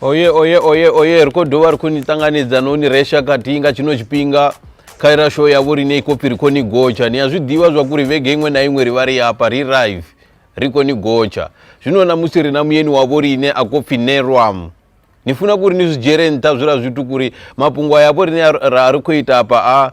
oye oye oye oye ri khou dovha ri khou ni ṱanganedza no ni resha khathihi nga tshino tshifhinga kha ira show yavho ri ne ikopi ri khou ni gotsha ni a zwi ḓivha zwa kuri vhege iṅwe na iṅwe ri vha ri hafha ri rive ri khou ni gotsha zwino namusi ri na muyeni wavho ri ine a khou pfhi nerwam ni funa kuri ni zwi dzhiele nṱha zwila zwithu kuri mafhungo a yavho rine ra ri khou ita hafha a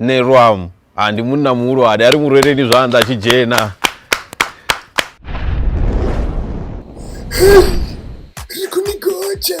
nṋe lwam a ndi munna muhulwane a ri murweleni zwanḓa a tshi dzhena ri khou ni gotsha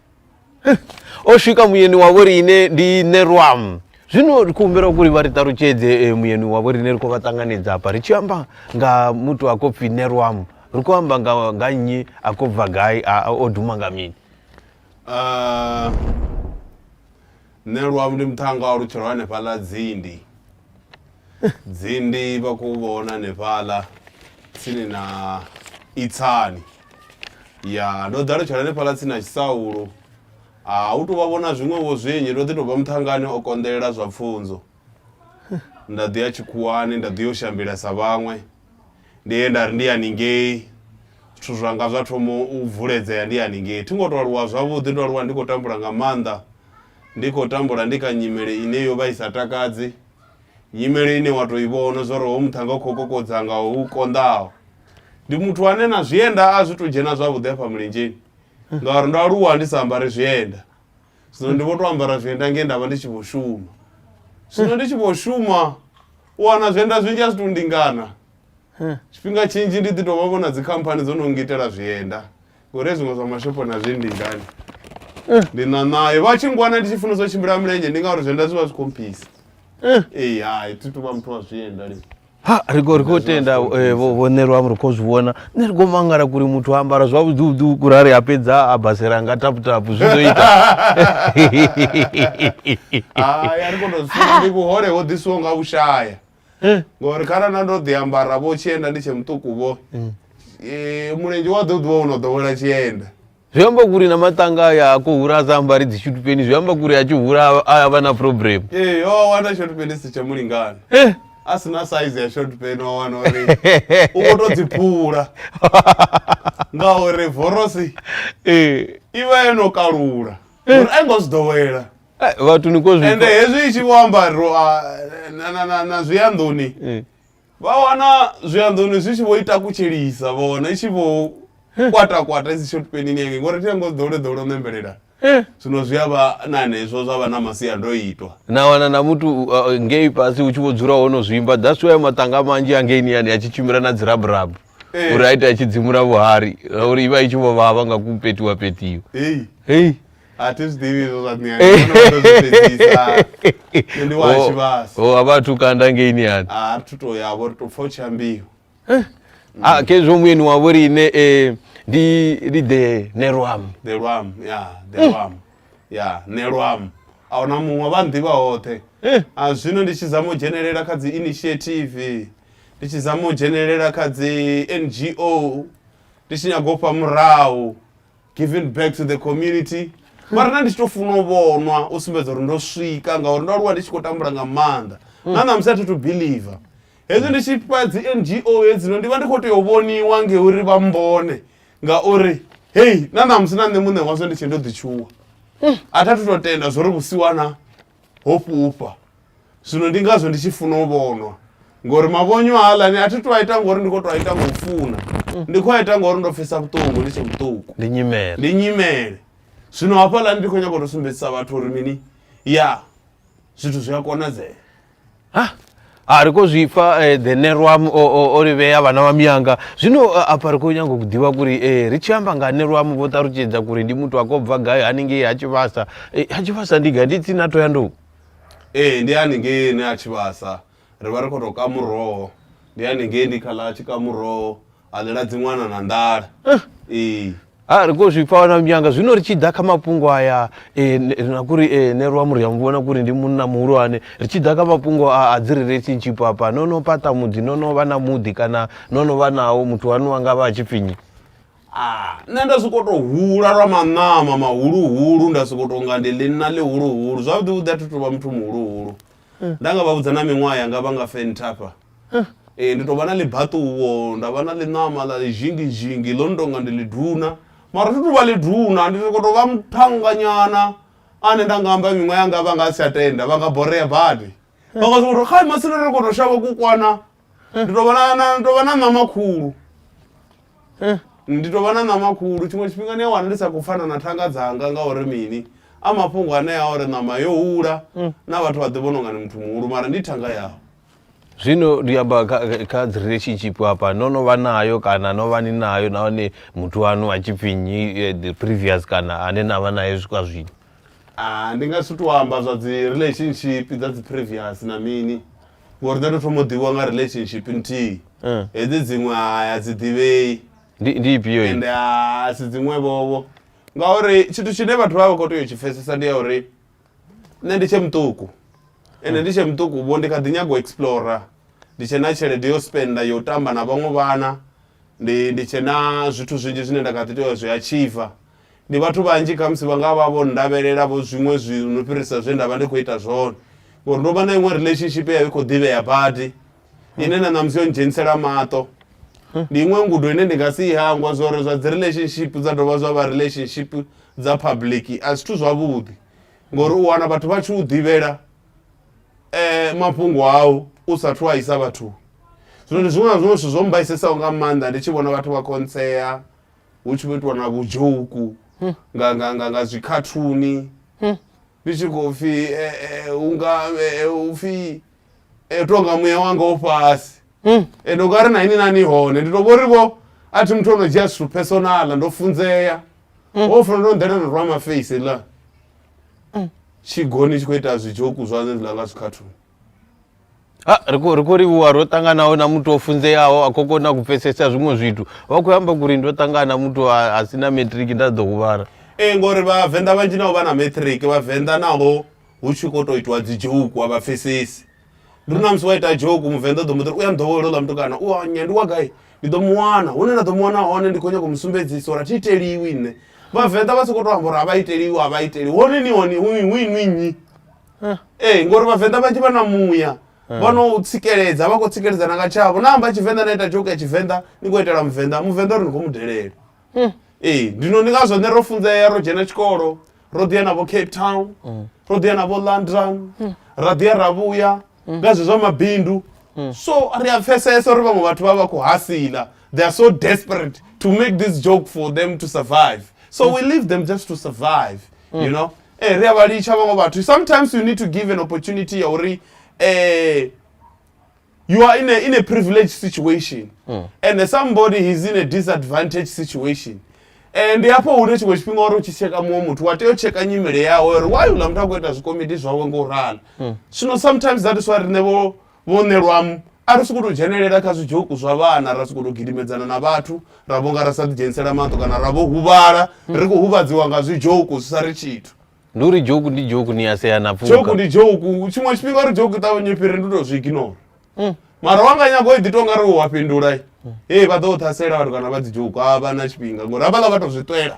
o swika muyeni wa vho riṋe ndi nerwam zwino ri khou humbela uri vha ri ṱalutshedze eh, muyeni wa vho riṋe ri khou vha ṱanganedza hafha ri tshi amba nga muthu a khou pfi nerwam ri khou amba nga nga nnyi a khou bva gai a- a- o duma nga mini Ah, Nṋe luavu ndi muṱhannga wa lutshelo hanefhaḽa Dzindi. Dzindi vha khou vhona hanefhaḽa tsini na Itsani. Ya ndo ḓa lutshelo hanefhaḽa tsini na Tshisaulu. A hu tou vha vhona zwiṅwevho zwinzhi ndo ḓi tou vha muṱhangani o konḓelela zwa pfunzo. Nda ḓi ya tshikhuwani nda ḓi yo shambela sa vhaṅwe. ndi he nda ri ndi haningei zwithu zwanga zwa thoma u vuledzea ndi haningei thi ngo to aluwa zwavhuḓi ndo aluwa ndi khou tambula nga maanḓa ndi khou tambula ndi kha nyimele ine yo vha i sa takadzi nyimele ine wa to i vhona zwori ho muthanga u khou kokodza nga u konḓaho ndi muthu ane na zwienda a zwi to dzhena zwavhuḓi afha mulenzheni ngauri ndo aluwa ndi sa ambari zwienda zwino ndi vho to ambara zwienda nge ndavha ndi tshi vho shuma zwino ndi tshi vho shuma u wana zwienda zwinzhi a zwi to ndingana tshifhinga tshinzhi ndi ḓi tovha vho na dzikhamphani dzo no ngitela zwienda ngori zwiṅwe zwa mashopho na zwi ndingani ndi na nayo vha tshi ngwana ndi tshi funesa u tshimbila milenzhe ndi ngauri zwienda zwi vha zwi khomphisa ee hai thi tuvha muthu wa zwienda lini ha ri khou ri khou tenda eh, vho vho nṋe lwam ri khou zwi vhona nṋe ri khou mangala kuri muthu a ambara zwavhuḓiuḓi kuri a ri a fhedza a basela nga taputapu zwi ḓo ita hai a ri koto zwisina ndi vhuhole ho ḓisiwo nga u shaya Eh, ngori kharali na ndo ḓi ambara vho tshienda ndi tshe muṱuku vho eh, mulenzhe wa ḓo ḓivha wo no ḓowela tshienda zwi amba kuri na matanga aya a khou hura a sa ambari dzi shutupeni zwi amba kuri a tshi hura a- a vha na problem ee Eh, wa wana short pen si tsha mulingana Eh, a si na size ya short pen wa wana uri u khou tou dzi phula ngauri vorosi eh. i vha yo no kalula uri a i ngo zwi ḓowela Eh, vhathu ni ko zwi ende hezwi i tshi vho ambariwa na- na- na- na zwiyanḓoni Eh. vha wana zwianḓoni zwi tshi vho ita kutshelisa vha wana i tshi vho kwata kwata i si short penini yange ngori thi yango ḓowle ḓowle u ṋembelela zwino zwi a vha na hanezwo zwa vha na masiandoitwa na wana na muthu uh, ngei fhasi hu tshi vho dzula hono zwimba that's why maṱanga manzhi angeini yani a tshi tshimbila na dziraburabu Eh. uri a ite a tshi dzimula vhuhari uri i vha i tshi vho vhavha nga kupetiwa petiwa heyi hei a thi zwi ḓivhi izwo zwa niyani ndo zwi fhedzisa nṋe ndi wa Oh, tshivhasa oh, a vha athu kanda ngei niyani a ri thu to ya vho ri to pfa u tshi ambiwa a khezwo muyeni wavho ri ine eh, ndi ndi the nerwam the lwam ya the lwam ya ne lwam a huna muṅwe vha nḓivha hoṱhe a zwino ndi tshi zama u dzhenelela kha dzi initiative ndi tshi zama u dzhenelela kha dzi ngo ndi tshi nyago u fha murahu giving back to the community mara na ndi tshi to funa u vhonwa u sumbedza uri ndo swika ngauri ndo aluwa ndi tshi khou tambula nga maanḓa na ṋamusi a thi to believer hezwi ndi tshi fha dzi ngo hedzino ndi vha ndi khou tea u vhoniwa ngeuri vha mbone ngauri hei na ṋamusi na nṋe muṋe wazwo ndi tshe ndo ḓitshuwa a thi athu to tenda zwori vhusiwana ho fhufha Zwino ndi ngazwo ndi tshi funa u vhonwa ngori mavhonyo haaḽani a thi to a ita ngori ndi khou to a ita nga u funa ndi khou a ita ngori ndo pfesa vhuṱungu ndi tshe vhuṱuku ndi nyimele ndi nyimele zwino hafhaḽani ndi khou nyanga u to sumbedzisa vhathu uri mini ya zwithu zwi a konadzea ha ha ri khou zwipfa um eh, the nerwam o livhea vhana vha miyanga zwino eh, afha ri khou nyanga u ḓivha kuri um eh, ri tshi amba nga nerwam vho ṱalutshedza kuri ndi muthu a khou bva gai haningei ha tshivhasa ha tshivhasa ndi gai ndi tsini a to ya nduku Ee ndi haningei hune ha tshivhasa ri vha ri khou tou ka muroho, ndi haningei ndi kha ḽa a tshi ka muroho a ḽela dzi ṅwana na nḓala ee. Ha ri khou zwi pfa na Mnyanga. Zwino ri tshi ḓa kha mafhungo aya e, na kuri e, ne lwa muri ya mu vhona kuri ndi munna muhulwane, ri tshi ḓa kha mafhungo a, a dzi relationship hafha, no no fhaṱa muḓi, no no vha na muḓi kana no no vha nawo, muthu waṋu a nga vha a tshi pfi nnyi? nṋe nda soko to hula lwa maṋama mahuluhulu nda soko to nga ndi ḽinna ḽihuluhulu zwavhuḓi vhuḓi a thi tovha muthu muhuluhulu mm. nda nga vha vhudza na miṅwaha yanga vha nga fenthafha mm. ee ndi tovha na ḽibaṱuwo nda vha na ḽiṋama ḽa ḽizhingizhingi ḽo no tonga ndi ḽiduna mara thi tovha ḽiduna ndi soko tovha muthanganyana ane nda nga amba miṅwaha yanga vha nga si tsha tenda vha nga borea badi vha nga soko to kha masina ri koto shavha ku kwana ndi tovha na- na- ndi tovha na ṋama khulu Eh. ndi tovha na ṋama khulu tshiṅwe tshifhinga ni a wana ndi sa khou pfana na thanga dzanga ngauri mini a mafhungo anea uri ṋama yo hula na vhathu vha ḓi vhona unga ni muthu muhulu mara ndi thanga yaho zwino ndi amba kha- kha- kha dzi relationship hafha no no vha nayo kana no vha ni nayo nahone muthu wanu a tshifhinyi eh, the previous kana ane na vha naye swika zwino Ah, ndi nga si tou amba zwa dzi relationship dza dzi previous na mini ngori nda to thoma u ḓivhiwa nga relationship nthihi Eh. hedzi dziṅwe hai a dzi ḓivhei ndi ndi ifhio i? ende a si dziṅwevhovho ngauri tshithu tshine vhathu vha vha khou tea u tshi pfesesa ndi ya uri nṋe ndi tshe muṱuku ende ndi tshe muṱuku vho ndi kha ḓi nyaga u explora ndi tshe na tshelede yo spenda yo tamba na vhaṅwe vhana ndi ndi tshe na zwithu zwinzhi zwine nda kha ḓi tea u zwi achieva Ndi vhathu vhanzhi khamusi vha nga vha vho ndavhelela vho zwiṅwe zwithu no fhirisa zwe nda vha ndi khou ita zwone ngori ndo vha na iṅwe relationship ya i khou ḓivhea badi ine na ṋamusi yo ndzhenisela maṱo ndi iṅwe ngudo ine ndi nga si i hangwa zwa uri zwa dzi relationship dza dovha zwa vha relationship dza public a zwithu zwavhuḓi ngori u wana vhathu vha tshi u ḓivhela um mafhungo au u sathu a isa vhathuni zwino ndi zwiṅwe na zwiṅwe zwithu zwo mbaisesaho nga maanḓa ndi tshi vhona vhathu vha khontsea hu tshi vho itiwa na vhudzhouku hmm. nga nga nga nga zwikhathuni hmm. ndi tshi khou pfhi eh, eh, unga eh, u pfhi tonga muya wanga o fhasi hmm. ende unga ri na ini nani hone ndi to vhori vho a thi muthu ono dzhia zwithu personal ndo funzea o funa ndo nḓela rwa maface la tshigoni tshi khou ita zwidzhouku zwa zwe zwiḽa nga zwikhathuni ha ri khou ri khou livhuwa ro ṱanganaho na muthu o funzeaho a khou kona u pfesesa zwiṅwe zwithu vha khou amba kuri ndo ṱangana na muthu a a si na matric nda ḓo huvhala ee ngori vhavenḓa vhanzhi navho vha na matric vhavenḓa naho hu tshi khou tou itiwa dzi joke a vha pfesesi ndi ri na musi wa ita joke muvenḓa u ḓo mu ḓiri u ya nḓowelo ḽa mutukana u anya ndi wa gai ndi ḓo mu wana hune nda ḓo mu wana hone ndi khou nyanga u mu sumbedzisa uri a thi iteliwi nṋe vhavenḓa vha sokou tou amba uri a vha iteliwi a vha iteliwi hone ni hone hu hu inwi nnyi eh. ee ngori vhavenḓa vhanzhi vha na muya eh. vha no u tsikeledza vha khou tsikeledza na nga tshavho na amba tshivenḓa na ita joke ya tshivenḓa ni khou itela muvenḓa muvenḓa uri ni khou mu delele hmm. ee ndino ndi ngazwo nṋe ro funzea ro dzhena tshikolo ro ḓiya navho cape town hmm. ro ḓiya navho london hmm. ra ḓiya ra vhuya nga zwezwa mabindu so ri a pfesesa uri vhaṅwe vhathu vha vha khou hasila they are so desperate to make this joke for them to survive so mm. we leave them just to survive mm. you know Ee, ri a vha litsha vhaṅwe vhathu sometimes you need to give an opportunity ya uri um you are in a, in a privileged situation mm. and somebody is in a disadvantage situation eh, ndi hafho hune tshiṅwe tshifhinga uri u tshi tsheka muṅwe muthu wa tea u tsheka nyimele yawe uri why uḽa muthu a khou ita zwikomiti zwawe nga u rala mm. zwino sometimes that is why riṋe vho Vhunṋe lwamu, a ri sokou tou dzhenelela kha zwidzhoku zwa vhana, ra sokou tou gidimedzana na vhathu, ra vho nga ra sa ḓidzhenisela maṱo kana ra vho huvhala ri khou huvhadziwa nga zwidzhoku zwi sa ri tshithu. Ndi uri dzhoku ndi dzhoku ni a sea na pfuka. Dzhoku ndi dzhoku, tshiṅwe tshifhinga uri dzhoku i ṱavhanye i fhire ndi tou zwi ignora. Mm. Mara wa nga nyaga u ḓi tou nga ri wa fhindula. Mm. Hei vha ḓo ṱhasela vhathu kana vha dzi dzhoku a vha na tshifhinga ngori havhaḽa vha tou zwi ṱwela.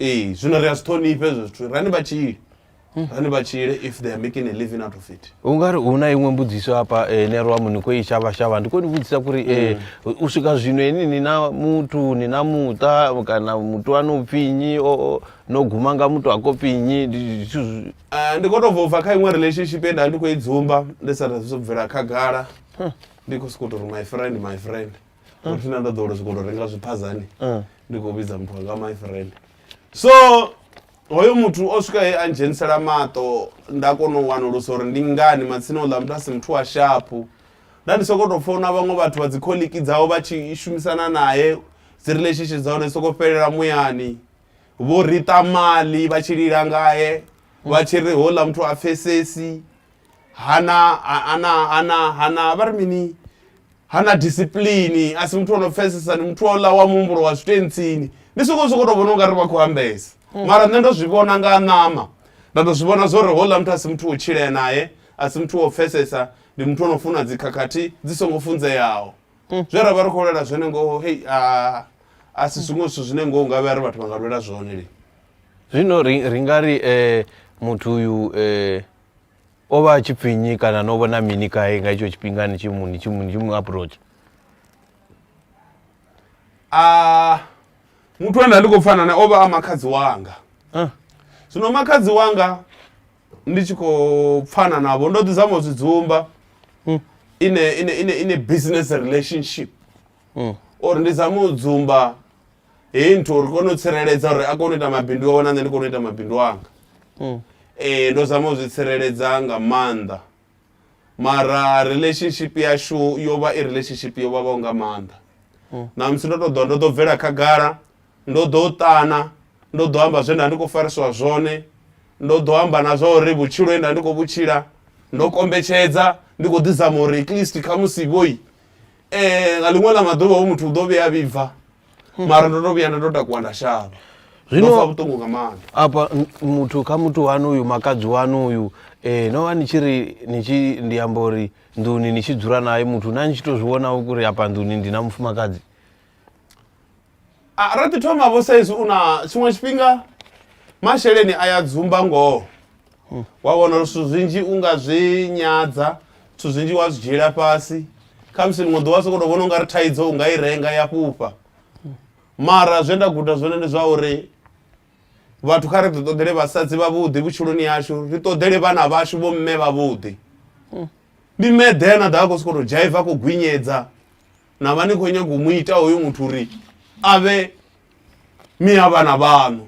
ee zwino ri a zwi ṱhonifha hezwo zwithu rani vha tshile rani vha tshile if they are making a living out of it u nga ri hu na iṅwe mbudziso hafha eh, nero wa muni khou i shavha shavha ndi khou ni vhudzisa kuri eh, u swika zwino ini ni na muthu ni na muṱa kana muthu wa no pfi nnyi o- o- no guma nga muthu a kopfi nnyi ndi zwithu zwi- Eh, ndi khou tou bva kha iṅwe relationship ye nda ndi khou i dzumba ndi sa zwo bvela khagala ndi khou sokou tou ri my friend my friend Ah. uri na nda ḓo uri zwikoto renga zwiphazani ah. ndi khou vhidza muthu wanga my friend so hoyo muthu o swika he a ndzhenisela maṱo nda kona u wanulusa uri ndi ngani matsina uḽa muthu a si muthu wa shapu nda ndi sokou tou founa vhaṅwe vhathu vha dzikholiki dzao vha tshi shumisana naye dzi relationship dza hone soko fhelela muyani vho rita mali vha tshi lila ngaye vha tshi ri hola muthu a pfesesi hana ha- hana hana hana vha ri mini hana discipline a si muthu ono pfesesa ndi muthu ola wa muhumbulo wa zwitentsini ndi soko soko to vhona ungari vha khou ambesa mara nṋe ndo zwi vhona nga ṋama nda to zwi vhona zwo ri hola muthu a si muthu wo tshilea naye a si muthu wo pfesesa ndi muthu ono funa dzikhakhathi dzi songo funzeaho zwe ra vha ri khou lwela zwone ngoho hei a a si zwiṅwe zwithu zwine ngoho nga vhea ri vhathu vha nga lwela zwone lini zwino ri ri nga ri eh, muthu uyu eh, o vha a tshi pfhi nnyi kana no vhona mini kae nga itsho tshifhinga ni tshi mu ni tshi mu ni tshi mu approach a muthu ane ndi khou pfana nae o vha a makhadzi wanga ah. zwino makhadzi wanga ndi tshi khou pfana navho ndo ḓi zama u zwi dzumba hmm. ine ine ine ine business relationship hmm. or ndi zama u dzumba heyi nthu uri kone u tsireledza uri a kone u ita mabindu awe na nṋe ndi kone u ita mabindu anga mm. ee ndo zama u zwi tsireledza nga maanḓa mara relationship yashu yo vha i relationship yo vhavhaho nga maanḓa mm. na musi ndo to ḓo ndo ḓo bvela khagala ndo ḓo ṱana ndo ḓo amba zwe nda ndi khou fariswa zwone ndo ḓo amba na zwa uri vhutshilo he nda ndi khou vhutshila ndo kombetshedza ndi khou ḓizama uri at least khamusi vhoi um nga ḽiṅwe ḽa maḓuvha hoyu muthu u ḓo vhuya a vhibva mara ndo to vhuya nda to takuwa nda shavha Zwino- Ndo pfa vhuṱungu nga maanḓa afha n- muthu kha muthu wanu uyu makadzi wanu uyu um no vha ni tshi ri ni tshi ndi amba uri nḓuni ni tshi dzula naye muthu na ni tshi to zwi vhona uri afha nḓuni ndi na mufumakadzi A ra ḓi thoma vho saizwi u na tshiṅwe tshifhinga masheleni a ya dzumba ngoho wa wana uri zwithu zwinzhi u nga zwi nyadza zwithu zwinzhi wa zwi dzhiela fhasi khamusi ḽiṅwe ḓuvha soko to vhona ungari thaidzo u nga i renga ya fhufha mara zwe nda guda zwone ndi zwa uri vhathu kha ri ḓi ṱoḓele vhasadzi vhavhuḓi vhutshiloni yashu ri ṱoḓele vhana vhashu vho mme vhavhuḓi ndi meḓe na ḓa a khou sokou tou dzhaiva a khou gwinyedza na vha ni khou nyaga u mu ita hoyo muthu uri a vhe miya vhana vhaṋu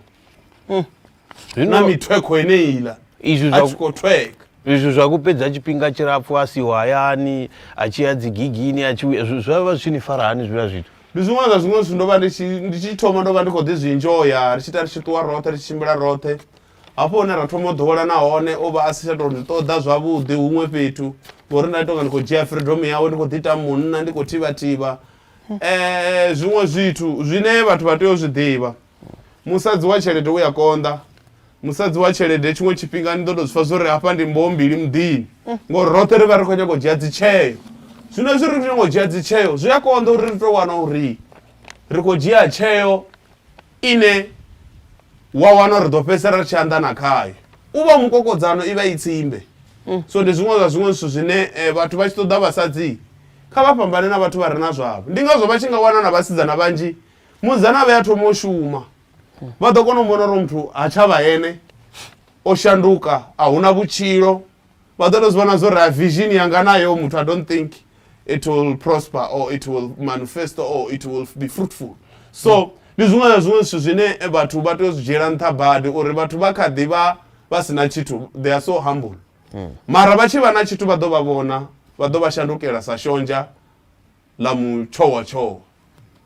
na Zwino mithwekho eneiḽa izwi a zwa tshi khou thweka izwi zwa kupedza tshifhinga tshilapfu a siho hayani a tshi ya dzigigini a tshi vhuya, zwi- zwa vha zwi tshi ni fara hani zwiḽa zwithu ndi zwiṅwe zwa zwiṅwe zwithu ndo vha ndi tshi ndi tshi thoma ndo vha ndi khou ḓi zwi enjoya ri tshi ita ri tshi ṱuwa roṱhe ri tshi tshimbila roṱhe Hafho hune ra thoma u ḓowelana hone o vha a si tsha tou ndi ṱoḓa zwavhuḓi huṅwe fhethu ngori nda tonga ndi khou dzhia freedom yawe ndi khou ḓi ita munna ndi khou thivha thivha um zwiṅwe zwithu zwine vhathu vha tea u zwi ḓivha musadzi wa tshelede u ya konḓa musadzi wa tshelede tshiṅwe tshifhinga ni ḓo tou zwi pfa zwo ri hafha ndi mboho mbili muḓini ngori roṱhe ri vha ri khou nyanga u dzhia dzitsheo zwino zwi ri ri nyanga u dzhia dzitsheo zwi a konḓa uri ri tou wana uri ri khou dzhia tsheo Ine wa wana uri ri ḓo fhedzisela ri tshi anḓana khayo. U vha mukokodzano, i vha i tsimbe. So ndi zwiṅwe zwa zwiṅwe zwithu zwine vhathu vha tshi ṱoḓa vhasadzi, kha vha fhambane na vhathu vha re na zwavho. Ndi ngazwo vha tshi nga wana na vhasidzana vhanzhi musidzana a vhuya a thoma u shuma, vha ḓo kona u vhona uri hoyu muthu ha tsha vha ene, o shanduka, a hu na vhutshilo, vha ḓo to zwi vhona zwori vision yanga nayo muthu i don't think it will prosper or it will manifest or it will be fruitful so mm. ndi zwiṅwe na zwiṅwe zwithu zwine vhathu vha tea u zwi dzhiela nṱha badi uri vhathu vha kha ḓi vha vha si na tshithu they are so humble mm. mara vha tshi vha na tshithu vha ḓo vha vhona vha ḓo vha shandukela sa shonzha ḽa mutshowatshowa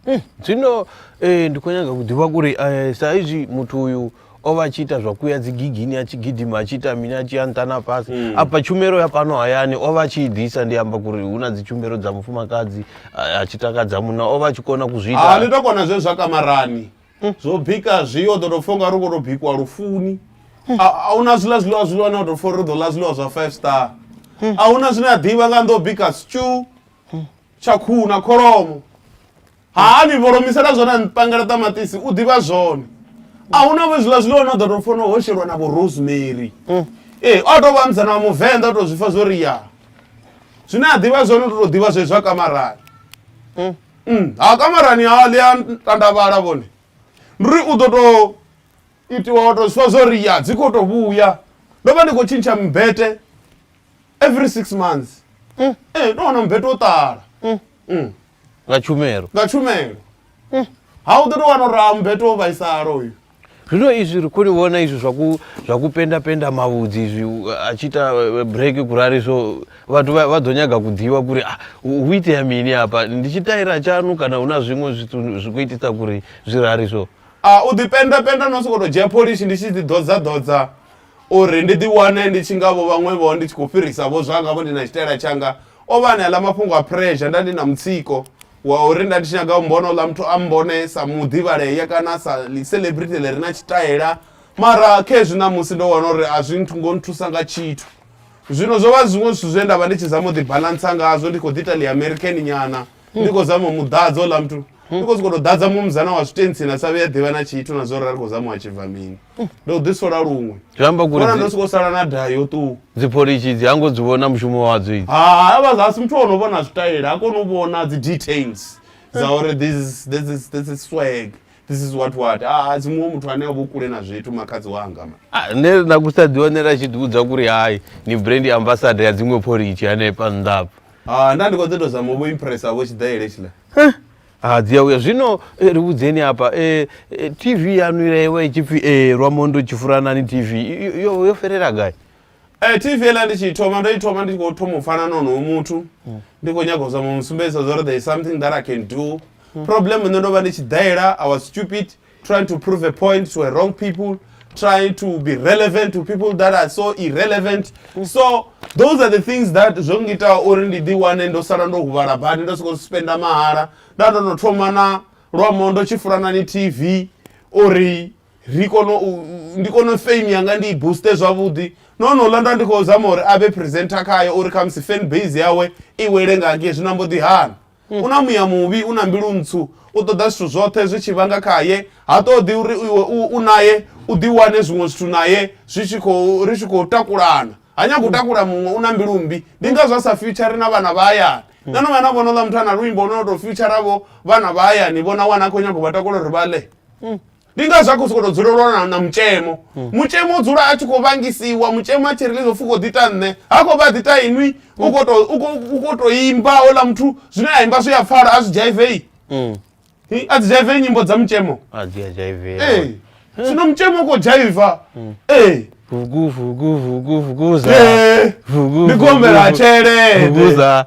Mm, zwino eh, ndi khou nyanga u ḓivha kuri eh, sa izwi muthu uyu o vha a tshi ita zwa kuya dzi gigini a tshi gidima a tshi ita mini a tshi ya nṱha na fhasi Mm. afha tshumelo ya fhano hayani o vha a tshi i ḓisa ndi amba kuri hu na dzi tshumelo dza mufumakadzi a a tshi takadza munna o vha a tshi kona ku zwi a ni ita to kona zwe zwa kamarani zwo bika zwi o ḓo tou pfha unga ri khou tou bikiwa lufuni A- a huna zwiḽa zwiḽiwa zwiḽiwa na u tou pfha uri ri ḓo ḽa zwiḽiwa zwa five star a huna zwine a ḓivha nga nḓo bika stew tsha khuhu na kholomo ha ni vhoromisela zwone a ni pangela ṱamaṱisi u ḓivha zwone a hu na vho zwiḽa zwiḽiwa no ḓo to fona ho shelwa na vho rosemary ee o tou vha musana wa muvenḓa o tou zwi fa zwo ri ya zwine a ḓivha zwone u tou ḓivha zwezwi zwa kamarani Mm, ha kamarani ha ḽi a tandavhala vhone ndi ri u ḓo tou itiwa wa tou zwi fa zwo ri ya dzi khou tou vhuya ndo vha ndi khou tshintsha mbete every six months Mm. ee ndo wana mbeto wo ṱala Mm. nga tshumelo nga tshumelo ha u ḓo tou wana uri a mbeto wo vhaisala uyu zwino izwi ri khou ni vhona izwi zwa ku- zwa ku penda penda mavhudzi izwi u- a tshi ita eh, break kurali so vhathu vha vha ḓo nyaga ku ḓivha kuri ah, hu hu itea mini hafha ndi tshitaira tshanu kana hu na zwiṅwe zwithu zwi khou itisa kuri zwi rali so a u ḓipendapenda no sokou tou dzhia pholishi ndi tshi ḓiḓodzadodza Uri ndi ḓiwane ndi tshi nga vho vhaṅwe-vho ndi tshi khou fhirisa-vho zwanga-vho ndi na tshitaela tshanga, o vha a na aḽa mafhungo a phurezha. Nda ndi na mutsiko wa uri nda ndi tshi nyaga u mbona uḽa muthu a mmbone sa muḓivhalea kana sa ḽi-celebrity ḽi re na tshitaela. Mara khezwi ṋamusi ndo wana uri a zwi ngo nthusa nga tshithu. Zwino zwo vha zwiṅwe zwithu zwe nda vha ndi tshi zama u ḓibalantsa ngazwo, ndi khou ḓi ita ḽi-American nyana, ndi khou zama u mu ḓadza houḽa muthu. hmm. because koto ḓadza muṅwe muzana wa zwitentsini a sa vhuya ḓivha na tshithu na zwo rari khou zama wa tshibva mini hmm. ndo ḓi sola luṅwe zwiambakona ndo soko sala na daha yo ṱuwa dzipolishi dzi hango dzi vhona mushumo wadzo idzi ha vha zasi muthu ono vhona zwitayela ha koni u vhona dzi details dza uri this this is this is swag this is what what ah, a dzimuwe muthu ane avho kule na zwithu makhadzi wanga ah, ne na kusa ḓiwanela tshi ḓiudza kuri hai ni brand ambassador ya dziṅwe phorichi hanefha nnḓa apa ha nda ndi khou ḓi tou zama u vho impressa vho tshiḓaele tshiḽa ha ah, dzi a uya zwino eh, ri vhudzeni hafha eh, tv yanu ila iwa i tshi pfi lwamo ndo tshi furanani tv yo fhelela gai Eh TV ela ndi tshi thoma ndo i thoma ndi khou thoma u pfana na onoyo muthu hmm. ndi khou nyaga u zama u musumbedzisa zwa uri there is something that i can do hmm. problem nṋe ndo vha ndi tshi daela i was stupid trying to prove a point to a wrong people trying to be relevant to people that are so irrelevant mm. so those are the things that zvo ngiitawo uri ndi ḓi wane ndo sala ndo huvhala badi ndo sokou spenda mahala nda ndo no thoma na lwamo ndo tshi fulana ni tv uri ri kono ndi kono fame yanga ndi i booste zwavhuḓi no no ḽa nda ndi khou zama uri a vhe presenter khayo uri khamusi fan base yawe i wele nga ngei zwino mbo ḓi hana U na muya muvhi, u na mbilu ntswu, u ṱoḓa zwithu zwoṱhe zwi tshi bva nga khae. Ha ṱoḓi uri iwe u, u nae u ḓiwane zwiṅwe zwithu nae zwi tshi khou, ri tshi khou takulana. Ha nyagi u takula muṅwe, u na mbilu mmbi. Ndi ngazwo a sa fiutshari na vhana vha hayani. Na no vhuya na vhona houḽa muthu a na luimbo lwo no tou fiutshara vho vhana vha hayani vho na wana a khou nyanga u vha takula uri vha ḽe? ndi nga zwa khou sokou tou dzula lwa na- na mutshemo mutshemo u dzula a tshi khou vhangisiwa mutshemo a tshi ri ḽizo pfhi u khou ḓita nṋe ha khou vha ḓita inwi u khou tou- u khou- u khou tou imba ola muthu zwine a imba zwi a pfala a zwi jaivei Hi, a dzi jaivei nyimbo dza mutshemo a dzi a dzhaive ee zwino mutshemo u khou jaiva ee vugu vugu vugu vuguza Ee. vugu ndi gombela tshelede vuguza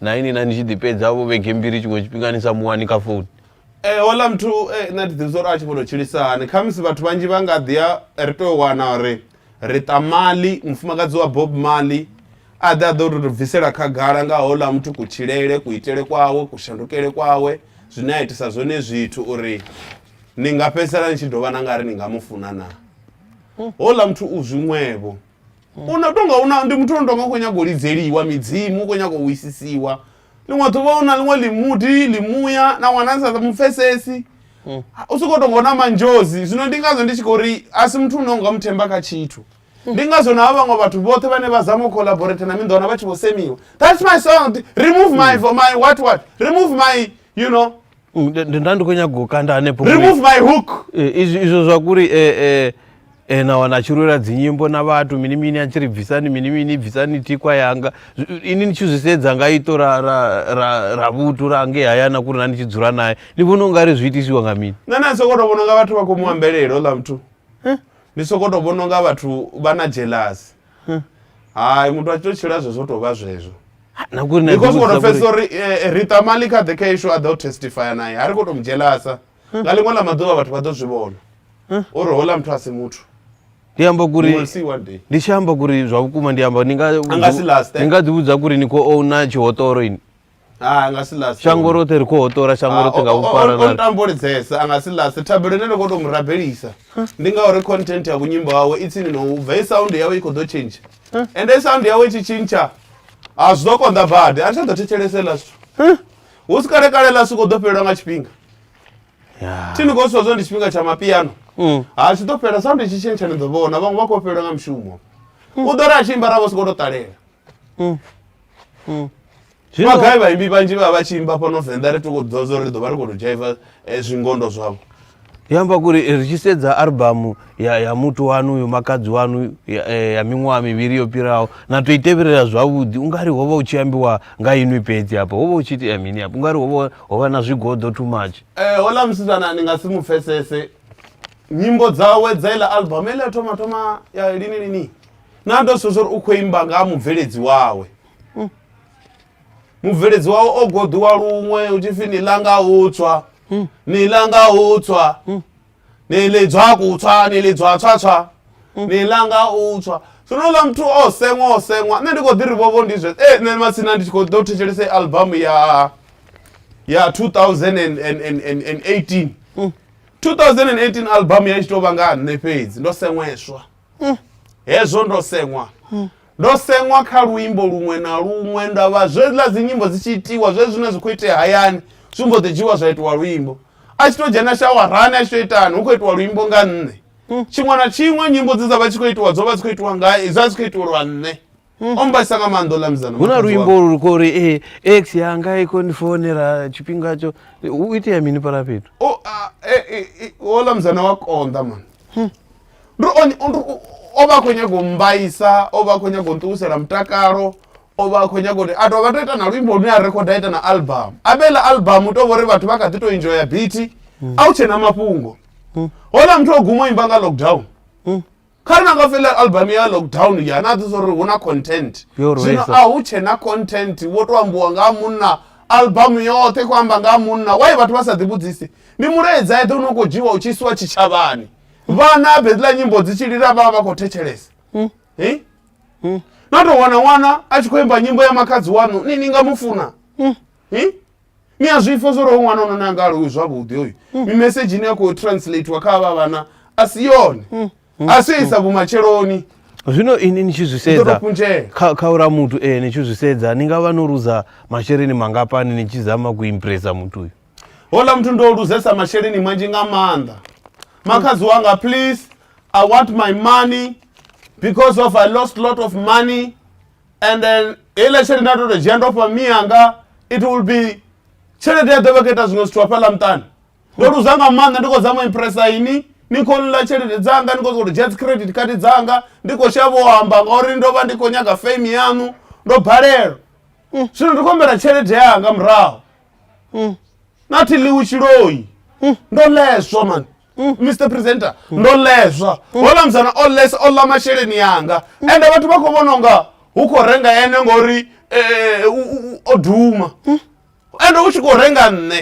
na ini na ndi tshi ḓi pedza vho vhege mbili tshiṅwe tshifhinga ni sa muwani kha founu Eh, hola mthu eh, nṋe thi ḓivhi zwa uri a tshi vhono tshilisa hani khamusi vhathu vhanzhi vha nga ḓi ya ri tou wana uri ri ṱa mali mufumakadzi wa bob mali a ḓe a ḓo tou bvisela khagala nga hola muthu kutshilele kuitele kwawe kushandukele kwawe zwine a itisa zwone zwithu uri ni nga fhedzisela ni tshi dovha na nga ri ni nga mu funa na hola muthu u zwiṅwevho u no tonga u na ndi muthu ono tonga u khou nyanga u lidzeliwa midzimu u khou nyanga u wisisiwa ḽiṅwe ḓuvha u na ḽiṅwe ḽimuḓi ḽimuya na ṅwana sa mu pfesesi hmm. u sokou tonga u na manzhozi zwino ndi ngazwo ndi tshi khou ri a si muthu une u nga mu themba kha tshithu ndi ngazwo na vhaṅwe vhathu vhoṱhe vhane vha zama u collaborate na minḓona vha tshi vho semiwa that's my song remove my, my what what remove my you know Mm, nda- nda- nda ndi khou nyaga u kanda hanefho remove kule. my hook Eh, izwi- izwo zwa kuri eh, eh, eh, na wana a tshi lwela dzinyimbo na vhathu mini mini a tshi ri bvisani mini mini bvisani tikwa yanga Zwi- ini ni tshi zwi sedza nga ito ra, ra, ra, ra vhuthu ra ngei hayana kuri na ni tshi dzula naye ni vhona u nga ri zwi itisiwa nga mini nṋe na soko to vhona unga vhathu vha khou mu ambelela ola muthu ndi soko to vhona unga vhathu vha na jealous hayi muthu a tshi to tshila zwezwo u tou vha zwezwo na ngori na because u khou ḓivhudzisa tou pfhesesa uri- uri eh, eh, rita mali kha ḓe kha ishu a ḓa u testifya naye ha ri khou tou mudzhelasa nga ḽiṅwe ḽa maḓuvha vhathu vha ḓo zwi vhona uri houḽa muthu a si muthu ndi amba You kuri will see one day. ndi tshi amba kuri zwa vhukuma ndi amba ni nga nga si last, eh? ni nga ḓivhudza kuri ni khou ouna tshihotoro ini ha a nga si last shango roṱhe ri khou hoṱola shango roṱhe nga vhufara o ntambo lidzesa a nga si last thabelo ine nda khou tou mu rabelisa ndi ngauri content ya kunyimbo wawe i tsini no ubva i sound yawe i khou ḓo tshintsha ende i sound yawe i tshi tshintsha a zwi ḓo konḓa badi a thi tsha ḓo thetshelese la zwithu hu si kale kale la soko ḓo fhelelwa nga tshifhinga thi ni khou swa zwo ndi tshifhinga tsha mapiano mm. ha tshi ḓo fhela sound i tshi tshintsha ni ḓo vhona vhaṅwe vha khou fhelelwa nga mushumo mm. u ḓo ri a tshi imba ra vho soko tou ṱalela mm. mm. zwino gai vhaimbi vhanzhi vha vha tshi imba fhano venḓa ri toko ḓivha zwa uri ri ḓo vha ri khou to dzhaiva eh, zwingondo zwavho ndi amba kuri eh, ri tshi sedza albamu ya, ya muthu wanu yo makadzi wanu ya, eh, ya miṅwaha mivhili yo fhiraho na to i tevhelela zwavhuḓi u nga ri ho vha u tshi ambiwa nga inwi fhedzi hafha ho vha u tshi itea mini hafha u nga ri ho vha na zwigoḓo too much eh, hola musidzana ni nga si mu pfesese nyimbo dzawe dza iḽa albamu iḽa thoma thoma ya lini lini na ndo sedza uri u khou imba nga ha mubveledzi wawe mubveledzi wawe o goḓiwa luṅwe u tshi pfi ni ḽa nga u tswa ni ḽa nga u tswa ni lidzwa kutswa ni lidzwa tswatswa ni ḽa nga u tswa zwino ḽa muthu o seṅwa o seṅwa nṋe ndi khou ḓi ri vhovo ndi zwe e nṋe matsina ndi tshi khou ḓo thetshelesa albamu ya ya 2018 2018 albamu ya tshi tou vha nga ha nṋe fhedzi ndo seṅweswa mm. hezwo ndo seṅwa mm. ndo seṅwa kha luimbo luṅwe na luṅwe nda vha zwedziḽa dzinyimbo dzi tshi itiwa zwe zwine zwi khou itea hayani zwi mbo ḓi dzhiwa zwa itiwa luimbo a tshi to dzhena shawarani a tshi to itani hu khou itiwa luimbo nga nṋe hmm. tshiṅwe na tshiṅwe nyimbo dze dza vha tshi khou itiwa dzo vha dzi khou itiwa nga dza dzi khou itiwa lwa nṋe o mbaisa nga maanḓa ola mzana hu na luimbo lu kho uri e eh, x yanga i kho ni fonela tshifhinga tsho u itea mini para fhethu o e, e, e, ola mzana wa konḓa man hmm. ri on o vha khou nyaga u mbaisa o vha khou nyaga u nṱuwisela mutakalo o vha khou nyaga uri a to vha to ita na luimbo lune a rekhoda ita na album a vhela album u to vhori vhathu vha kha ḓi to enjoya biti hmm. a u tshena mafhungo hmm. hola muthu o guma o imba nga lockdown kha ri na nga fela album ya lockdown ya na ḓisa uri hu na content zwino a hu tshe na content wo to ambiwa nga munna album yoṱhe khou amba nga munna wai vhathu vha sa ḓivhudzise ndi mulaedza eḓe une u khou dzhiwa u tshi isiwa tshitshavhani vhana bedziḽa nyimbo dzi tshi lila vhavha vha khou thetshelesa hmm. hmm. na tou wana ṅwana a tshi khou imba nyimbo ya makhadzi wanu ni ni nga mu funa hmm. ni a zwipfa zwo ri ho ṅwana ono na nga alowi zwavhuḓi hoyu mm. mimesedzhi ine ya khou translatiwa kha avha vhana a si yone mm. Mm. a si yo isa vhumatsheloni zwino ini ni tshi zwi sedza kha ura muthu e ni tshi zwi sedza ni nga vha no luza masheleni mangapani ni tshi zama ku impresa muthu uyu hola muthu ndo luzesa masheleni manzhi nga maanḓa makhadzi wanga please i want my money because of i lost lot of money and then heiḽa tshelede nda to to dzhia ndo fha miyanga it will be tshelede ya ḓovha kho ita zwiṅwe zwithu hafhaḽa muṱani ndo luza nga maanḓa ndi khou zama u impressa ini ni khou ḽa tshelede dzanga ni khou sokou dzhia dzi credit card dzanga ndi khou shavha u amba ngauri ndo vha ndi khou nyaga fame yaṋu ndo balelwa mm. zwino ndi khou humbela tshelede yanga murahu mm. nathi ḽiwi tshiloi mm. ndo leswa mani mr presenter ndo lezwa hola muzana o lesa o ḽa masheleni yanga ende vhathu vha khou vhona unga hu khou renga ene ngori eh, u- u- u- o duma ende hu tshi khou renga nṋe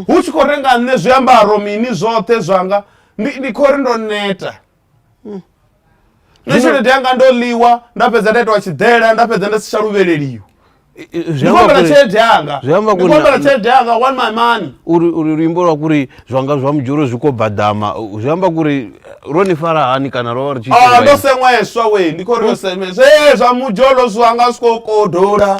hu tshi khou renga nṋe zwiambaro mini zwoṱhe zwanga ndi ndi khou ri ndo neta nṋe tshelede yanga ndo ḽiwa nda fhedza nda itiwa tshiḓela nda fhedza nda si tsha luvheleliwa I- i- zwi ndi amba khou humbela kuri- tshelede yanga zwi amba ndi kuri khou humbela na- tshelede yanga one my money uri uri luimbo lwa kuri zwanga zwa mudzhoro zwi khou badama u- zwi amba kuri ro ni fara hani kana ro vha ri tshi Ah, ndo ita seṅweswa we ndi khou ri yo seṅweswa ee zwa mudzholo zwanga zwi khou kodola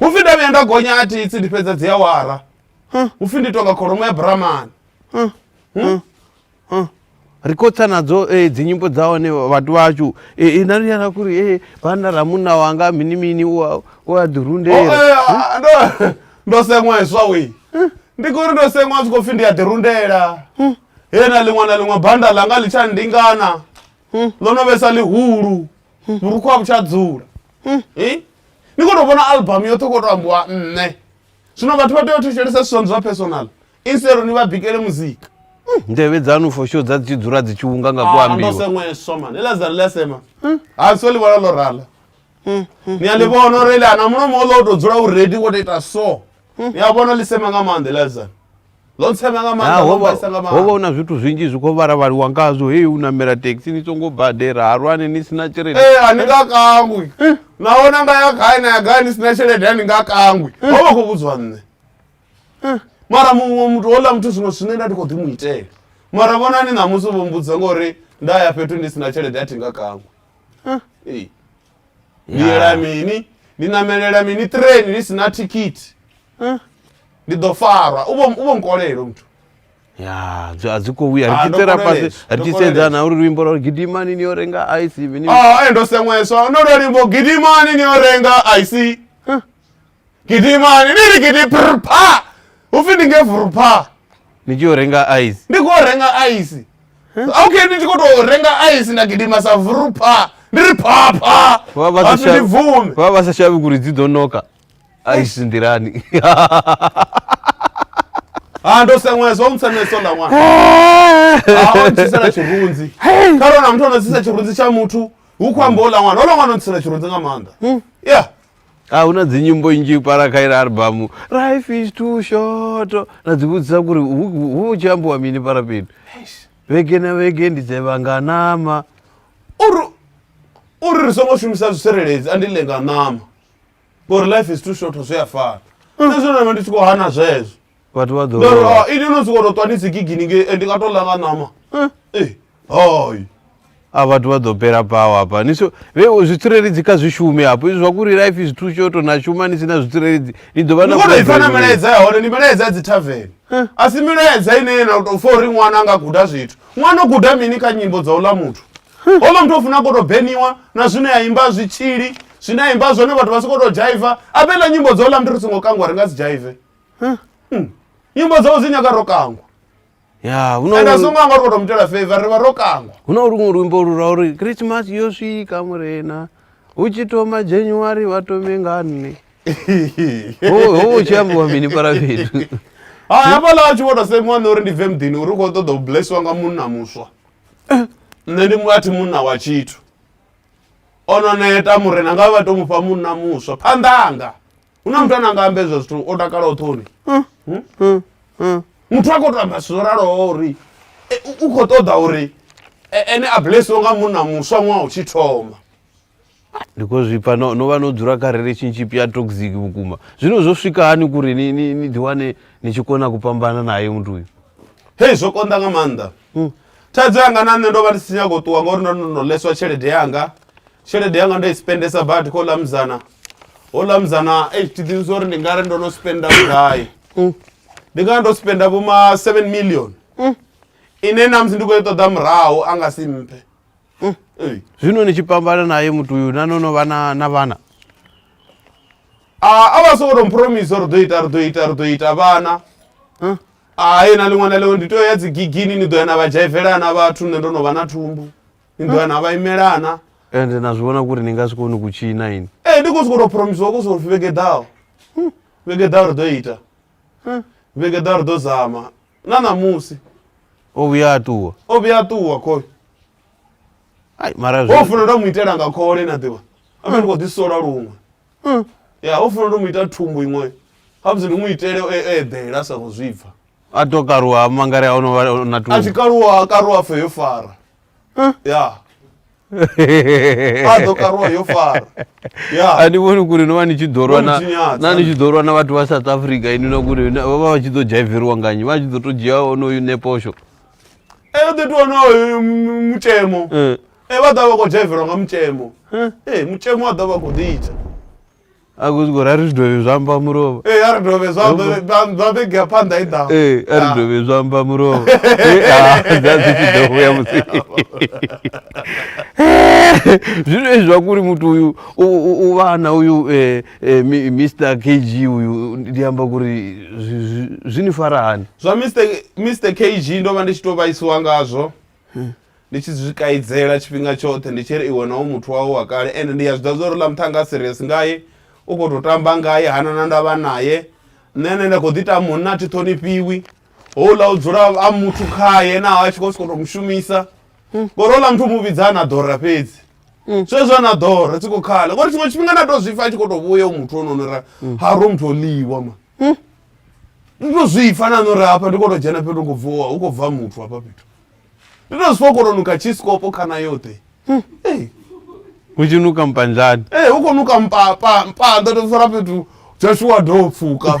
hupfi nda vhuya nda gonya a thitsi ndi fhedza dzi awara hupfi ndi tonga kholomo ya bramani ri khou tsa nadzo eh, dzinyimbo dza hone vhathu vhashu eh, eh, na ri yana kuri eh, vhana ra munna wanga mini mini u a- u a ḓirundela Oh, eh, ah, ndo- ndo seṅwa heswa we ndi kuri ndo seṅwa zwi khou pfi ndi a ḓirundela he na ḽiṅwe na ḽiṅwe banda ḽanga ḽi tsha ndingana ḽo no vhesa ḽihulu vhurukhu a vhu tsha dzula Eh? ni kho to vhona album yoṱhe u kho to ambiwa nṋe zwino vhathu vha tea u thetshelesa zwithu zwa personal instead ni vha bikele muzika nḓevhe dzanu for sure dza dzi tshi dzula dzi tshi unga nga ku ambiwa ndosengweswa mani ila dzani lasema ha so ḽi vhona ḽo rala ni a ḽi vhona uri ḽi ana mulomo o ḽo u to dzula u redi wo to ita so ni a vhona ḽi sema nga maanḓa ila dzani ḽo ntsema nga maanḓa ḽo mbaisa nga maanḓa hovha una zwithu zwinzhi zwi kho vharavhaliwa ngazwo heyi u namela taxi ni songo badela halwani ni sina tshelede eh ani nga kangwi eh. naho na nga ya gai na ya gai ni sina tshelede ani nga kangwi eh. hovha kho vhudzwa nṋe eh. mara muṅwe muthu hola muthu zwino zwine nda ndi kho ḓi mu itela mara vhonani ṋamusi vho mbudza ngori nda ya fhethu ndi sina tshelede a thi nga kangwi ee ni yela mini ni namelela mini train ni sina thikhithi Eh, ndi ḓo farwa u vho u vho nkolelo muthu ya zwi- a zwi khou vhuya Ah, ri ndo tshi tsela fhasi koleleswa, ri ndo tshi sedzana koleleswa. uri luimbo lwa uri gidimani ni yo renga aisi mini ah eh, ndo seṅweswa no lwa limbo gidimani ni yo renga ic gidimani ni ri gidi prpa upfi ndi nge vrpa ni tshi yo renga ice ndi khou renga ice okay ndi tshi khou tou renga ice nda gidima sa vrpa ndi ri phapha Vha- vha sa Hapfi ndi shavhi- bvume vha vha sa shavhi kuri dzi ḓo noka ice nḓilani ha ndo senwesa o msenweso nda ṅwana ha o ntsisela tshirunzi kharona muthu ono tsisa tshirunzi tsha muthu hu khou amba ola ṅwana ola ṅwana o ntsisela tshirunzi nga maanḓa ya a hu na dzi nyimbo nnzhi para kha ila albamu life is too short na dzi vhudzisa kuri hu hu- hu tshi ambiwa mini para fhethu Eish. vhege na vhege ndi dzevha nga nama uri uri ri songo shumisa zwitsireledzi andi ḽe nga ṋama ngori life is too short zwi a fana na zwino navha ndi tshi khou hana zwezwo vhathu vha ḓo Ndo ri, lwa. "Ah, ini no sokou tou ṱwa ni si gigini ngei eh, ndi nga tou ḽa nga ṋama Eh, Eh, hai a vhathu vha ḓo pela pawa hapa ni so vhe u zwitsireledzi kha zwi shume hafho izwi zwa kuri life is too short na shuma ni si na zwitsireledzi ni ḓo vha ni khou tou ipfa na problem. milaedza ya hone ndi milaedza ya dzi tavern a si milaedza ine ye na tou fa uri ṅwana a nga guda zwithu ṅwana o guda mini kha nyimbo dza uḽa muthu hoḽa muthu o funa ko tou beniwa na zwine ya imba zwitshili zwine a imba zwone vhathu vha si khou tou dzhaiva a vhe ḽa nyimbo dza uḽa muthu ri songo kangwa ri nga si dzhaive nyimbo dzau dzi nyaga ro kangwa ya hu ende a songo na anga uri kho to mu itela favor ri vha ro kangwa hu na luṅwe luimbo lu lwa uri christmas yo swika murena hu tshi thoma january vha tome nga nne ho ho hu tshi ambiwa mini para fhethu hai hafhaḽa a tshi vho to semiwa nṋe uri ndi bve muḓini uri u khou ṱoḓa u blessiwa nga munna muswa nṋe ndi mu- a thi munna wa tshithu o no neta murena nga vha to mufha munna muswa phanḓanga hu na muthu ane anga amba ezwo zwithu o takala o ṱhoni muthu a khou to amba zwithu zwo raloho uri e, u khou ṱoḓa uri e, ene a blesiwe nga munna muswa ṅwaha u tshi thoma ndi khou zwi pfa no no vha no dzula kha relationship ya toxic vhukuma zwino zwo swika hani kuri ni ni ni ḓiwane ni tshi kona ku fhambana naye muthu uyu hei zwo konḓa nga maanḓa thaidzo yanga na nṋe ndo vha ndi si nyako ṱuwa ngauri ndo no leswa tshelede yanga tshelede yanga ndo i spendesa badi kho ḽa muzana ho ḽa muzana ei thi ḓivhi uri ndi nga ri ndo no spenda vhugai mm. ndi nga ndo spenda vho ma seven million mm. ine namusi ndi khou i ṱoḓa murahu a nga si mphe mm. zwino ni tshi pambana naye muthu uyu na no no vha na vhana Ah, a vha songo to mpromisa uri ḓo ita ri ḓo ita ri ḓo ita vhana hai na ḽiṅwe na ḽiṅwe ndi tea ya dzigigini ni ḓo ya na vha dzhaivelana vhathu nṋe ndo no vha na thumbu ni ḓo ya na vha imelana ende na zwi vhona kuri ni nga si koni ku tshina ini ee ndi khou sokou tou promisiwa khou souri vhege ḓaho vhege ḓaho ri ḓo ita vhege ḓaho ri ḓo zama na ṋamusi o vhuya a ṱuwa o vhuya a ṱuwa khole ai mara o zwi funa nda mu itela nga khole na ḓivha a ndi khou ḓi sola luṅwe Hmm. ya o funa ndo mu ita thumbu iṅwe habudzi ndi mu itele o e- eḓela a sa khou zwi pfa a to karuwa mangari a ono vha na a tshi tu kaluwa a karuwa pfe yo fara ya a ḓo karuwa yo fara ya a ni vhoni kuri no vha ni tshi ḓo lwa Vho na- ntshinyadza. na ni tshi ḓo lwa na vhathu vha south africa ini na kuri na- vha vha vha tshi ḓo dzhaiveriwa nganyi vha tshi ḓo to dzhia onoyu neposho eyo ḓi tou onoyo mutshemo Eh. e vha ḓa vha khou dzhaivelwa nga mutshemo Eh. ee mutshemo wa ḓa vha khou ḓi ita a khou zwi khou ri a ri zwi dovhe zwa amba mulovha ee a ri dovhe zwa vhege phanḓa i ḓaho ee a ri dovhe zwa amba mulovha dza dzi tshi ḓo vhuya musi zwino ezwi zwa kuri muthu uyu u vhana uyu e, e, mr kg uyu ndi amba kuri zwi ni fara hani zwa mr kg ndo vha ndi tshi tou vhaisiwa ngazwo Ndi tshi zwi kaidzela tshifhinga tshoṱhe ndi tshi ri iwe na u muthu wawe wa kale ende ndi ya zwi ḓivha zwa uri ḽa muṱhannga nga serious ngaye u kho to tamba ngaye hana na ndavha naye nṋe ane nda kho ḓi ita munna a thi ṱhonifhiwi houḽa u dzula a muthu khaye naho a tshi khou sokou to mushumisa ngori houḽa muthu mu vhidza ana ḓora fhedzi zwezwo ana ḓora tshi khou khala ngori tshiṅwe tshifhinga na to zwipfa a tshi khou to vhuya u muthu ono nora ha ro muthu o ḽiwa ma hmm? ndi to zwi pfa nano ri hafha ndi kho to dzhena fhethu khou bvuwa hu khou bva muthu hafha fhethu ndi to zwi kho to nuka tshisikopo khana yoṱhe hmm? hu tshi nuka mpanzani ee hu khou nuka mpapa mpanda to fara fhethu jashuwa do pfuka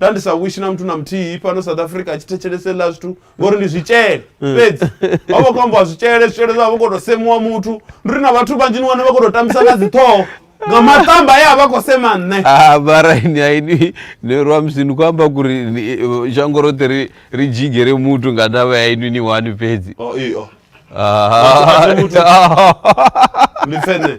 nda ndi sa wishi na muthu na muthihi fhano south africa a tshi thetshelesa heḽa zwithu ngori ndi zwitshele mm. fhedzi vha vha khou ambiwa zwitshele zwitshele zwa vha khou tou semuwa muthu ndi ri na vhathu vhanzhi ni wane vha khou tou tambisa nga dziṱhoho nga matamba ye a vha khou sema nṋe ah, varaini aini ni rwa musi ni khou amba kuri zhango roṱhe ri ri dzhigere muthu nga ndavha ya inwi ni wani fhedzi oh, oh. Ah. ndi pfene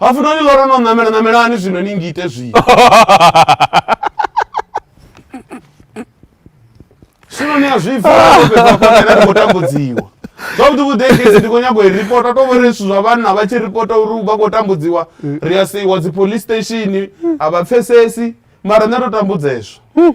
hapfi noni lora no namela namelani zwino ni ngite zwino zwino ni a zwipfaaakhou tambudziwa zwavhuḓi vhuḓekesi ndi khou nyago i ripota to vhori zwithu zwa vhanna vha tshi ripota uri vha khou tambudziwa ri a seiwa dzi police station a vha pfesesi mara nṋe ndo tambudzeswa hmm.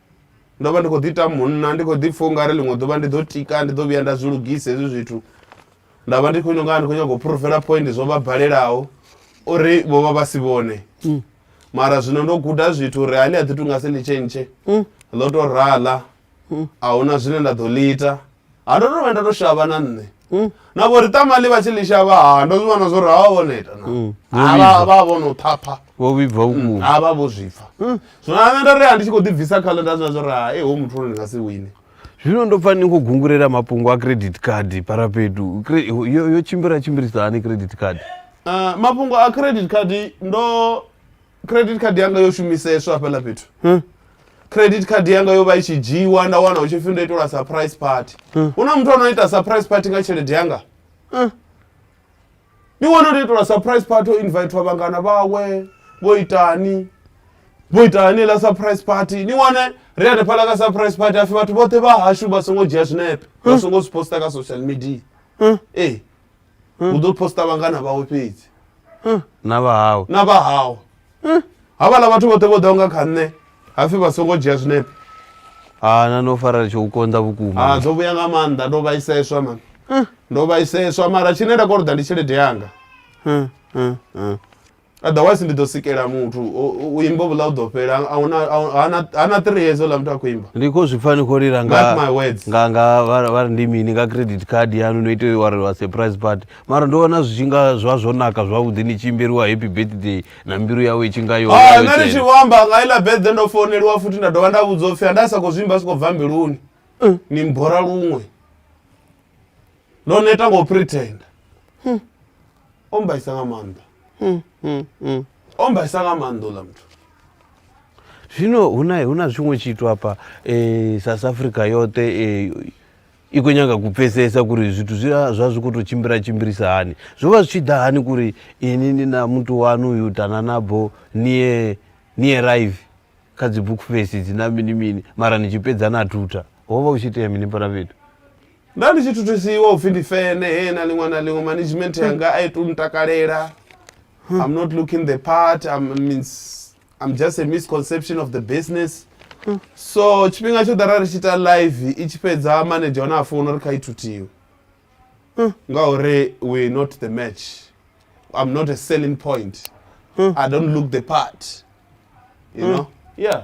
ndo vha ndi khou ḓi ita munna ndi khou ḓi pfha ungari ḽiṅwe ḓuvha ndi ḓo tika ndi ḓo vhuya nda zwi lugisa hezwi zwithu nda vha ndi khou ino nga ndi khou nyanga u phurofela point zwo vha balelaho uri vho vha vha si vhone mm. mara zwino ndo guda zwithu uri hani a ḓi tunga si ḽi tshentshe mm. ḽo to rala mm. a huna zwine nda ḓo ḽi ita ha ndo to vha nda to shavha na nṋe na vho ri tamali vha tshi ḽi shavha ha ndo zwi vhona zwo ri ha vha vho neta na Mm. Ha vha- vha vho no thapha vho vhibva vhukuma ha vha vho zwipfa zwino ha nṋe nda ri ha ndi tshi khou ḓibvisa khalo nda zwa zwo ri ha e ho muthu ono ndi nga si wine zwino ndo pfa ni khou gungurela mafhungo a credit card parapedu Cre- yo yo tshimbila tshimbilisa hani credit card Ah, mafhungo a credit card ndo credit card yanga yo shumiseswa hafhaḽa fhethu hmm. credit card yanga yo vha i tshi dzhiiwa nda wana hu tshi pfhi ndo itelwa surprise party hmm. hu na muthu ano ita surprise party nga tshelede yanga hmm. ndi wana ndo itelwa surprise party o invitwa vhangana vhawe vho itani vho itani la surprise party ni wane ri hanefhaḽa ka surprise party hapfi vhathu vhoṱhe vha hashu vha songo dzhia zwinepe vha songo zwi posta ka social media ee hu ḓo posta vhangana vhawe fhedzi na vha hawe na vha hawe havhala vhathu vhoṱhe vho ḓaho nga kha nṋe hapfi vha songo dzhia zwinepe ha na no fara tsho u konḓa ha vhukuma dzo vhuya nga maanḓa ndo vhaiseswa mani ndo vhaiseswa mara tshine nda koloda ndi tshelede yanga otherwise ndi ḓo sikela muthu u imba vhuḽa u ḓo fhela hana three years ola muthu a khou imba ndi khou zwi pfa ni khou lila nganganga ndi mini nga credit card yanu no ite wa wa surprise party mara ndo vhona zwi tshi nga zwa zwo naka zwavhuḓi ni tshi imbeliwa happy birthday na mbilu yawe i tshi nga yo ah, nṋe ndi tshi vho amba nga iḽa birthday ndo founeliwa futhi nda dovha nda vhudzwa upfhi anda sa khou zwi imba si khou bva mbiluni eh. ni mbora luṅwe ndo neta ngo pretenda hmm. ombaisa nga maanḓa ombaisa nga maanḓa uḽa muthu zwino hu na hu na zwiṅwe tshithu hafha um south africa yoṱhe um i khou nyanga ku pfesesa kuri zwithu zwi zwa zwi khou tou tshimbila tshimbilisa hani zwo vha zwi tshi ḓa hani kuri ini ni na muthu wanu uyu dananabo nie nie rive kha dzi book face dzi na mini mini mara ni tshi fhedza na thutha ho vha u tshi itea mini fhala fhethu Nda ndi tshi thuthusiwa upfi ndi fene he na ḽiṅwe na ḽiṅwe management yanga a i tu ntakalela. I'm not looking the part. I'm means I'm just a misconception of the business. So tshifhinga tsho ḓara ri tshi ita live i tshi fhedza manager hone a founa uri kha i thuthiwe. Ngauri we not the match. I'm not a selling point. I don't look the part. You know? Yeah.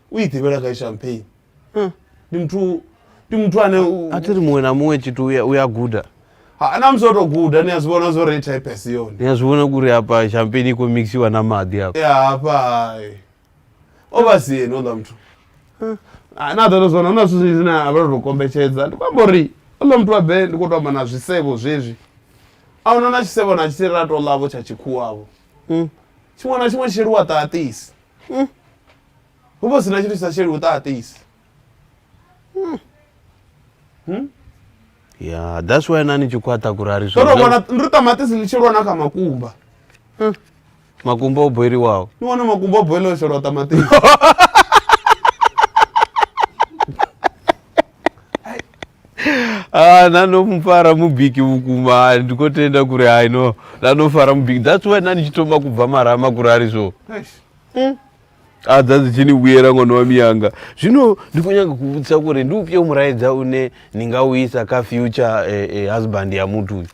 u i ḓivhela gai champagne ndi muthu ndi muthu ane u- a thi ri muṅwe na muṅwe tshithu uya- uya guda Ha, na musi o tou guda ni a zwi vhona zwo ri type si yone ni a zwi vhona kuri hapa champagne i khou mixiwa na maḓi hapa ya hafha hai o vha si yeni oḽa muthu Ah, na ḓoto zwona hu na zwithu zwinzhi zwine a vha tou kombetshedza ndi khou amba uri oḽa muthu wa be ndi khou tou amba na zwisevho zwezwi a huna na tshisevho na tshithihi ra tou ḽavho tsha tshikhuwavho tshiṅwe na tshiṅwe tshi sheliwa ṱaṱisi hu vha hu si na tshithu tshi sa sheli vhuṱaṱisi ya that's why nani tshi khwaṱha kuri a ri ndo no zwi vhona ndi ṱamaṱisi ḽi tshi lwa na kha makumba makumba o boiliwaho ni wana makumba o boiḽa o shelwa ṱamaṱisi Ah, nanomufara mubiki vhukuma ah, ndi khou tenda kuri i know nanomufara mubiki that's why nani tshi thoma kubva marama kuri a ri so Eish. mm. adza dzichiniwuyera mwana wa miyanga zvino ndikunyanga kuvutisa kuri ndiupyo muraidza une ndingauyisa ka future eh, eh, husband yamutu uyu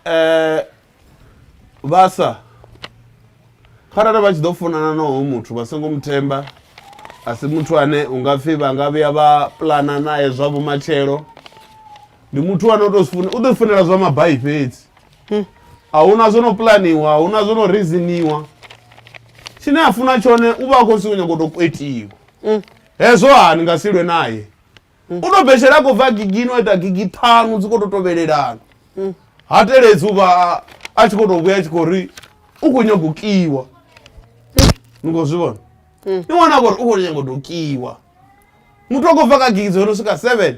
eh, vasa kharali vha tshi ḓo funana noho muthu vha songo muthemba a si muthu ane u nga pfhi vha nga vhuya vha pulana naye zwa vhumatshelo ndi muthu ane u tou funa u ḓo funela zwa mabai fhedzi a hu na zwo no pulaniwa a hu na zwo no riziniwa tshine a funa tshone u vha a khou siko nyago tou kwetiwa hezwo ha ni nga si lwe naye u tou betshelea a khou bva gigi no ita gigi ṱhanu dzi khou tou tovhelelana ha teledzi u vha a tshi khou tou vhuya a tshi khou ri u khou nyago kiwa ni khou zwi vhona ni wana a khou ri u khou nyago tou kiwa muthu a khou bva kha gigi dzo no swika seven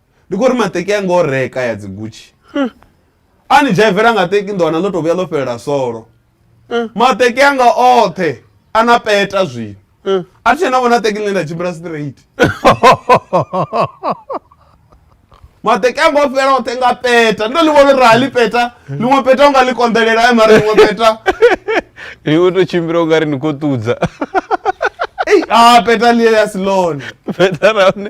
ndi khou ri maṱeki a ngo reka ya dzigutshi a ni dzhaivela nga teki nḓowana ḽo tou vhuya ḽo fhelela solo maṱeki anga oṱhe a na peta zwino a thi tshena vhona teki ḽine nda tshimbila straight maṱeki anga o fhela oṱhe nga peta ndo ḽi vhona uri ha ḽi peta ḽiṅwe peta u nga ḽi konḓelela e mara ḽiṅwe peta ni u tou tshimbila u nga ri ni khou ṱudza ei a peta ḽi ya si ḽone peta ra hone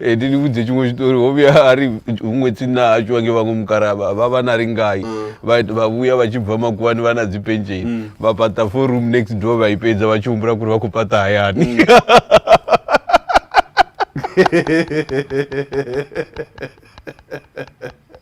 Eh, ndi ni vhudze tshiṅwe tshitori ho vhuya a ri huṅwe tsini a tshiwa nge vhaṅwe mukara vha vha vha na ri ngai vha vha vhuya vha tshi bva makuwani vha na dzi pensheni vha paṱa four room next door vha i fhedza vha tshi humbula kuri vha khou paṱa hayani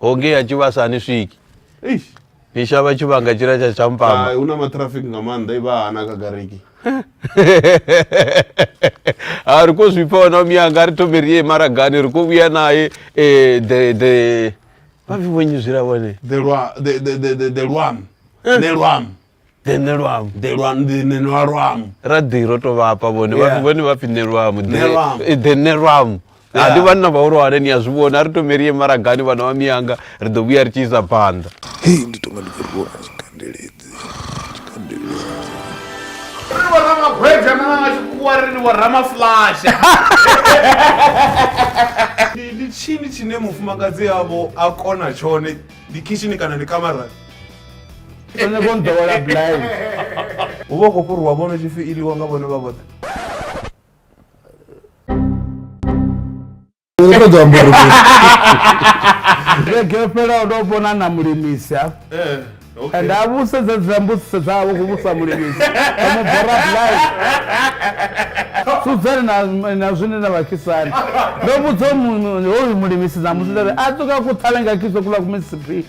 hoge ya tshivhasa hani swiki Eish. ni shavha tshivhanga tshila tsha tshampama Hai, una matraffic nga maanḓa i vha hana kha gariki ha ri khou zwi pfa ona miyanga ri thome ri ye maragani ri khou vhuya naye eh, the the vha pfi vhonyi zwila vhone the lwa the the the the, the lwam ne lwam ḓe nṋe lwamu ḓe lwa ḓe nṋe lwa lwamu ra ḓi ro to vhafha vhone Yeah. vha vhone vha pfi nṋe lwamu Nṋe ḓe lwamu. eh, ḓe nṋe lwamu Yeah. ndi vhanna vhahulwane ni a zwi vhona a ri tomeli ye maragani vhana vha miyanga ri ḓo vhuya ri tshi isa phanḓa hei ndi tonga ndi khou rwiwa nga tshikandeledzi tshikandeledzi ri wa ramagweja na nga tshikhuwa ri ni wa ramaflasha ndi tshini tshine mufumakadzi yavho a kona tshone ndi khishini kana ndi kamarani o nyaka o nḓowela blind u vha u khou fhuriwa vhono tshi fi iliwa nga vhone vha vhoṱhe vhege yo fhelaho ndo vhona na mulimisi ha eh, and a vhusedza dza mbudziso dzavho ku vhusa mulimisi omubora blind sudzani na zwine na vhakisani ndo vhudza hoyu mulimisi na musi ndari a tuka ku thalenga kiso kula kumisipi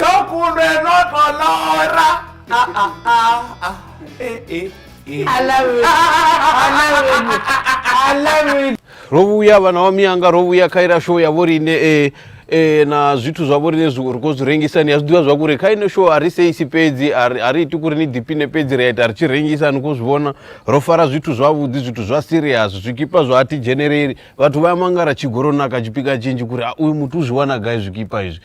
kọkùnrin ẹ náà kọ lọ́ọ́rá. aláwẹ̀ aláwẹ̀ aláwẹ̀. rovuya vana va miyanga rovuya kaira sho ya vori ne e e na zwithu zwa vhori ne zwi ri khou zwi rengisa ni a zwi ḓivha zwa kuri kha ine show a ri seisi fhedzi a ri iti kuri ni ḓipine fhedzi ri a ita ri tshi rengisa ni khou zwi vhona ro fara zwithu zwavhuḓi zwithu zwa serious zwikipa zwa athi dzhenereli vhathu vha ya mangara tshigoroni na ka tshipika tshinzhi kuri a uyu muthu u zwi wana gai zwikipa izwi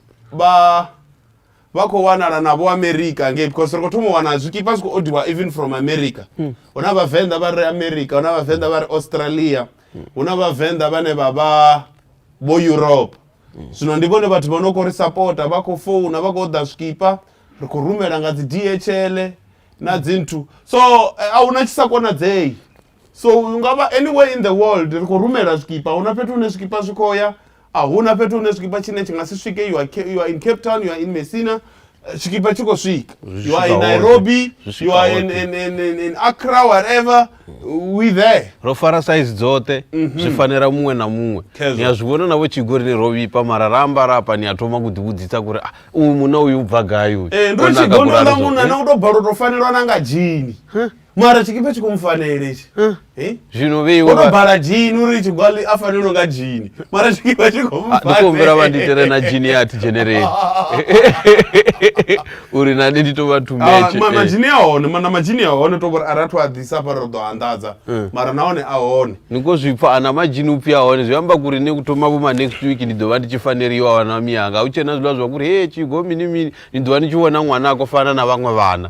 vha vha khou wanala na vho america ngei because ri khou thoma u wana zwikipa zwi khou odiwa even from america hmm. hu na vhavenḓa vha re america hu na vhavenḓa vha re australia hmm. hu na vhavenḓa vhane vha vha vho europe hmm. zwino ndi vhone vhathu vha no khou ri sapota vha khou founa vha khou ḓa zwikipa ri khou rumela nga dzi dhl na dzinthu so eh, a hu na tshi sa konadzei so hu nga vha anywhere in the world ri khou rumela zwikipa hu na fhethu hune zwikipa zwi khou ya a hu na fhethu hune zwikipa tshine tshi nga si swike you are, Ca- you are in cape town you are in messina eh, tshikhipa tshi khou swika Zwi you are in swika hoṱhe. nairobi Zwi swika you are in, hoṱhe. in, in, in, in accra whatever we there ro fara saizi dzoṱhe zwi fanela muṅwe na muṅwe Khezwo. ni a zwi vhona navho tshigori ni ro vhipa mara ra ambara apa ni a thoma ku ḓivhudzisa kuri "Ah, uyu munna uyu u bva gai uyu Eh, ndo O naka tshigondwa ḽa kulala zwo." munna na u tou bala u tou fanelwa na nga dzhini mara tshikipa tshi khou mu fanela itshi Eh? zwino vhe iwe woto vha- bala jini uri tshigwali a fanela u nga jini mara tshikipa tshi khou mu Ah, ndi khou humbela vha ndi tere na jini ya athi dzheneleli uri nane ndi tou vha thumbetshe Ah, majini a hone mana majini a hone to vhori a rathu a ḓisa fara ri ḓo anḓadza Mm. mara nahone a hone ni khou zwi pfa ana majini upfi a hone zwi amba kuri ni thoma vhuma next week ndi ḓo vha ndi tshi faneliwa wana miyanga hu tshena zwiḽa zwa kuri he tshigo mini mini ni ḓo vha ni tshi vhona ṅwana a khou fana na vhaṅwe vhana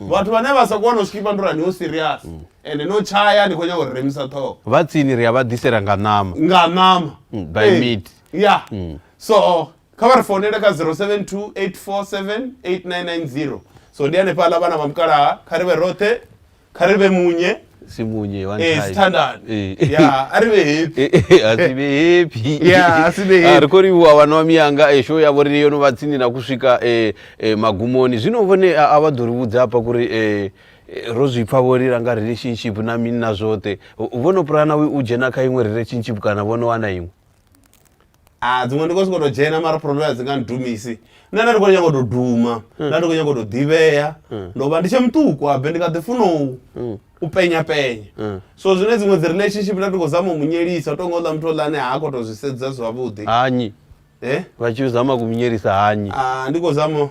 Mm. vhathu vhane vha sa kona u skipa ndo rani ho serious mm. ende no tshaya ni khou nyanga uri remisa ṱhoho vha tsini ri a vha ḓisela nga ṋama nga ṋama mm, by mid ya so kha vha ri founele kha 0728478990 so ndi hanefhaḽa vhana vha mukalaha kha ri vhe roṱhe kha ri vhe munye simunye one eh time sithandane Eh, eh. ya ari vhe happy Eh, eh, asi vhe happy Yeah, asi vhe happy. Ah, ri khou livhuwa vhana wa miyanga eh, show yavho ri yo no vha tsini na ku swika eh, eh, magumoni zwino vhone a a vha ḓo ri vhudza hafha kuri eh, eh, ro zwi pfa vho lila nga relationship na mini na zwoṱhe U- vho no pulana u u dzhena kha iṅwe relationship kana vho no wana iṅwe ah dziṅwe ndi khou sokou tou dzhena mara problem a dzi nga ndidumisi nṋe nda ndi khou nyanga u tou duma nda ndi khou nyanga u tou ḓivhea ndo vha ndi tshe muṱuku habe ndi kha ḓi funa u- u penya penya so zwine dziṅwe dzi relationship nda ndi khou zama u mu nyelisa u tou nga uḽa muthu oḽa ane ha khou tou zwi sedza zwavhuḓi hanyi Eh? vha tshi zama kumunyelisa hanyi Ah, ndi khou zama u-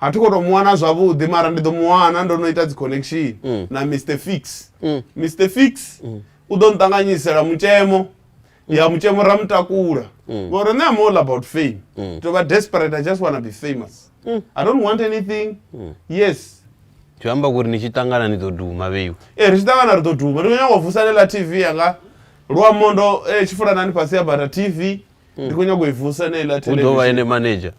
a thi khou tou mu wana zwavhuḓi mara ndi ḓo mu wana ndo no ita dzi connection mm. na mr fix mm. mr fix mm. u ḓo nṱanganyisela mutshemo ya mutshemo ra mutakula ngori nṋe am all about fame to vha desperate i just wanna be famous i don't want anything yes zwi amba kuri ni tshi ṱangana ni ḓo duma vheiwe e eh, ri tshi ṱangana ri ḓo duma ndi khou nyanga u vusalela tv yanga luamondo eh, tshifulanani fhasi ya bata tv ndi khou nyanga u i vusa ene iḽa u ḓo vha ene manager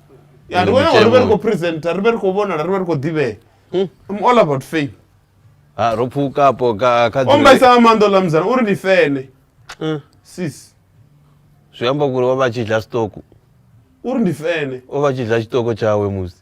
ya ndi khou nyanga ri vhe ri khou presenter ri vhe ri khou vhonala ri vhe ri khou ḓivhea hmm. i'm all about fame ha ro pfukapo ka ka o mbaisa nga maanḓa oḽa muzana uri ndi fene hmm. sis zwi amba kuri o vha tshi dla stoku uri ndi fene o vha tshi dla tshitoko tshawe musi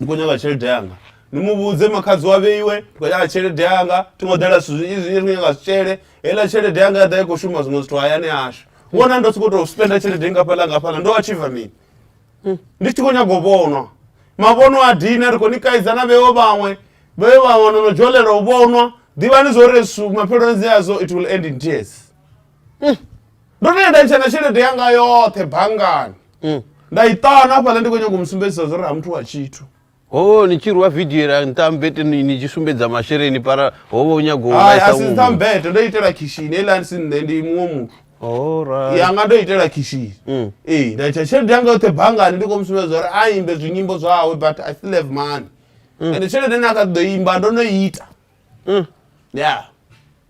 ndi khou nyaga tshelede yanga ni mu vhudze makhadzi wa vheiwe ndi khou nyaga tshelede yanga thi ngo ḓela zwithu zwinzhi zwinzhi ndi khou nyaga zwitshele heiḽa tshelede yanga ya ḓa i khou shuma zwiṅwe zwithu hayani hashu vhona ndo sokou tou spenda tshelede ngafhaḽa ngafhaḽa ndo achiva mini ndi tshi khou nyaga u vhonwa mavhono a dina ri khou ni kaidza na vheo vhaṅwe vheo vhaṅwe no no dzholela u vhonwa ḓivhani zwo ri su mapheloni dzi adzo it will end in tears mm. ndo no ya nda ntsha na tshelede yanga yoṱhe banngani mm. nda i ṱana hafhaḽa ndi khou nyanga u mu sumbedzisa zwo ri ha muthu wa tshithu ho ni tshi rwa vidio ra ntambete ni tshi sumbedza masheleni para ho vha u nyago a si ntambete ndo itela khishini eḽa si nṋe ndi muṅwe muthu yanga ndo itela khishini mm. ee nda ita tshelede yanga yoṱhe banngani ndi khou mu sumbedza uri a imbe zwinyimbo zwawe but i still have money mm. ende tshelede ine a kha ḓo imba ndo no ita mm. ya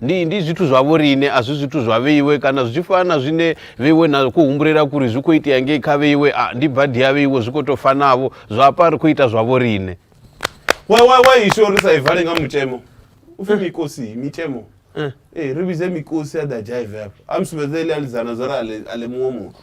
Ndi, ndi zwithu zwa vhoriṋe, a zwi zwithu zwa vheiwe, kana zwi tshi fana na zwine vheiwe na khou humbulela kuri zwi khou itea ngei kha vheiwe, a ndi badi ya vheiwe, zwi khou tou fanavho, zwa hafha ri khou ita zwa vhoriṋe. Wa, wa, wa isho ri sa i vale nga mutemo, u pfi mikosi, mitemo. Eh. Eh, ri vhidze mikosi a ḓa dzhaive hafha, a mu sumbedza iḽi alidzana zwa ri a ḽe, a ḽe muṅwe muthu.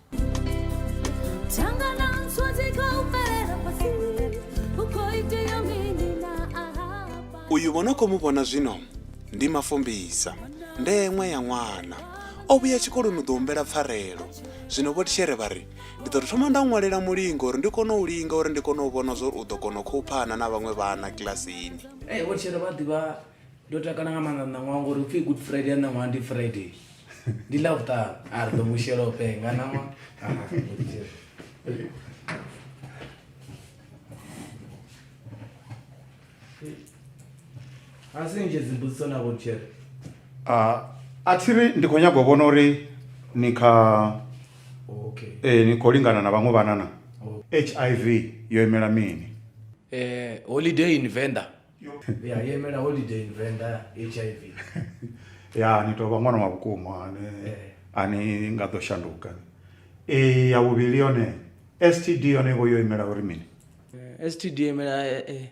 uyu vho no khou mu vhona zwino ndi mafumbisa ndeṅwe ya ṅwana o vhuya tshikoloni u ḓo humbela pfarelo zwino vho tishere vha ri ndi ḓo thoma nda ṅwalela mulingo uri ndi kone u linga uri ndi kone u vhona zwa uri u ḓo kona u khouphana na vhaṅwe vhana kilasini vho tishere vha ḓivha ndo takala nga maanḓa ṋaṅwaha ngori upfhi good friday ya ṋaṅwaha ndi friday ndi ḽa vhuṱanu a ri ḓo mu shela u penga ṋaṅwa a si nzhe dzimbudziso na vhotshele a thi ri ndi khou nyagwa vhona uri ni kha okay ee ni khou lingana na vhaṅwe vhanana hiv yo imela mini eh holiday in venda ya yo imela holiday in venda hiv ya ni tou vha ṅwana wa vhukuma ane Eh. a ni nga ḓo shanduka e ya vhuvhili yone std yone vho yo imela uri mini Eh, std yo imela eh, eh,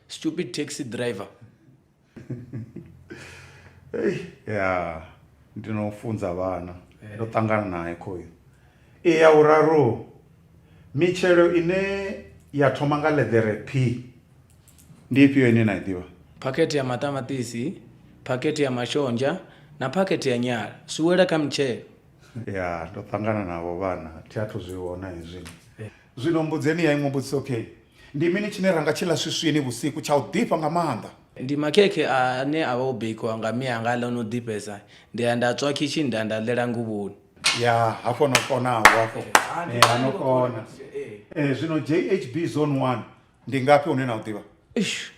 stupid taxi driver Ei, ya ndi no funza vhana Eh. ndo ṱangana naye khoyu e ya vhuraru mitshelo ine ya thoma nga ḽeḓere p ndi ifhio ine na i ḓivha phakhethe ya maṱamaṱisi phakhethe ya mashonzha na phakhethe ya nyala zwi wela kha mitshelo ya ndo ṱangana navho vhana thi athu zwi vhona hezwi zwino mbudzeni ya iṅwe mbudziso okay ndi mini tshine ra nga tshi ḽa swiswini vhusiku tsha u ḓifha nga maanḓa ndi makhekhe ane a vha o bikiwa nga mme anga ḽa no ḓifhesa ndi ya nda tswa khishini nda ya nda ḽela nguvhoni ya hafho no konaho hafho Eh, ha no kona Eh, zwino jhb zone one ndi ngafhi une na u ḓivha eish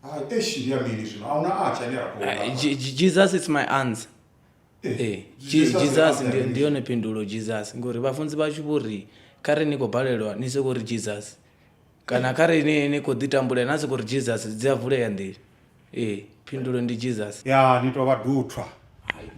Hai, eish ndi ya mini zwino a huna atsha ane a khou Ah, lafha. Je- Je- jesus is my answer Eh, Eh, Je- Jesus jesus is ndi- answer. ndi yone phindulo jesus ngori vhafunzi vhashu vho ri kha ri ni khou balelwa ni soko ri jesus kana kha ri ni ni khou ḓi tambulela na soko ri jesus dzi a vulea nḓila Ee, phindulo ndi Jesus. Ya ni tovha duthwa.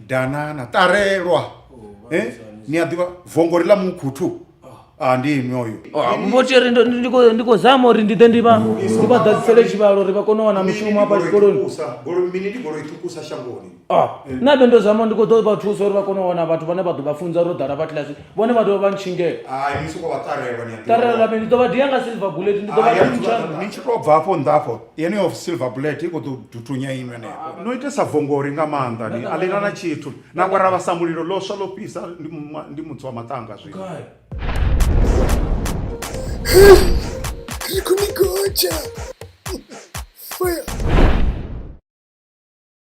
Danana, ṱarelwa. Oh, eh? Ni a ḓivha vongori ḽa mukhuthu. Ah, ah ndi inwi oyo. Ah, Vho Theri ndo ndi khou ndi khou zama uri ndi ḓe ndi vha ndi vha ḓadzisele tshivhalo uri vha kone u wana mushumo hafha tshikoloni. Goloi mini ndi goloi ṱhukusa shangoni. Ah, nṋe abe ndo zama ndi khou ḓo vha thusa uri vha kone u wana vhathu vhane vha ḓo vha funza ro ḓala vha kilasi vhone vha dovha vha ntshingela Hai, ni soko vha ṱarelwa ni a ḓivha. ṱarela mini ndi ḓo vha dia nga silver bullet ndi ḓo vha Hai, thuntsha ni tshi to bva afho nnḓa afho yeneyo of silver bullet i khou ḓo dutunya inwe henefho no itesa vongori nga maanḓa ni a ḽina na tshithu na kwara vhasa mulilo ḽo swa ḽo fhisa ndi mu- ndi mutsi wa maṱanga zwino Gai? Kha ni gotsha. Fire.